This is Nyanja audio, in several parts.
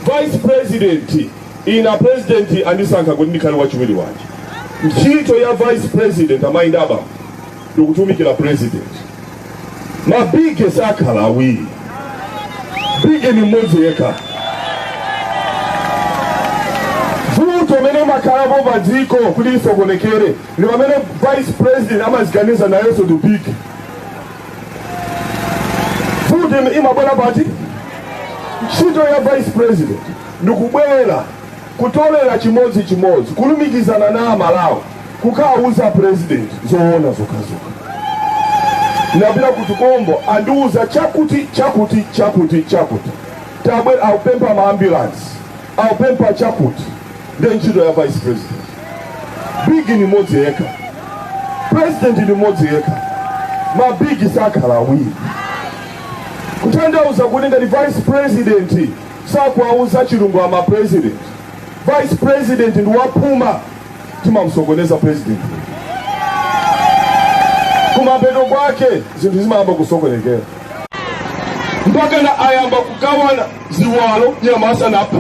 vice president ine president andisankha kuti ndikhale wachiwiri wake ntchito ya vice president amayi ndaba ndikutumikira president mabigi sakhala awiri bigi ni mmodzi yekha vuto imene imakhalapo pa dziko kuti lisokonekere ndi pamene vice president amaziganiza nayenso ndi bigi vuto imabwera pati ntchito ya vice president ndikubwera kutolera chimodzi chimodzi kulumikizana na amalawi kukawuza president zoona zokhazokha ndapita ku tukombo andiwuza chakuti chakuti chakuti chakuti tabwera apempha ma ambulance apempha chakuti nde ntchito ya vice president bigi ni mmodzi yekha president ni mmodzi yekha mabigi sakhala awiri kutanthauza kuti ngati vice president sakuwauza chilungamo a president vice president ndi waphuma timamsokoneza president kumapeto kwake zinthu zimayamba kusokonekera mpakana ayamba kugawana ziwalo nyama asanaphe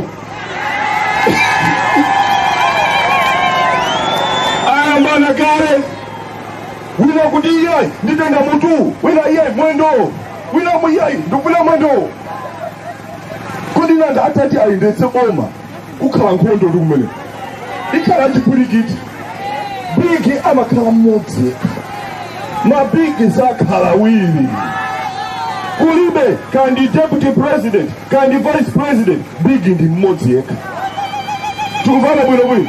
ayambana kale wina kuti iyayi nditenga mutu wina iyayi mwendo wina iyayi ndikufuna mwendo kodi nanga atati ayendetse boma kukhala nkhondo ndi kumene ikhala chipwirikiti bigi amakhala mmodzi mabigi sakhala awiri kulibe kaya ndi deputy president kaya ndi vice president bigi ndi mmodzi yekha tikuvana bwino bwino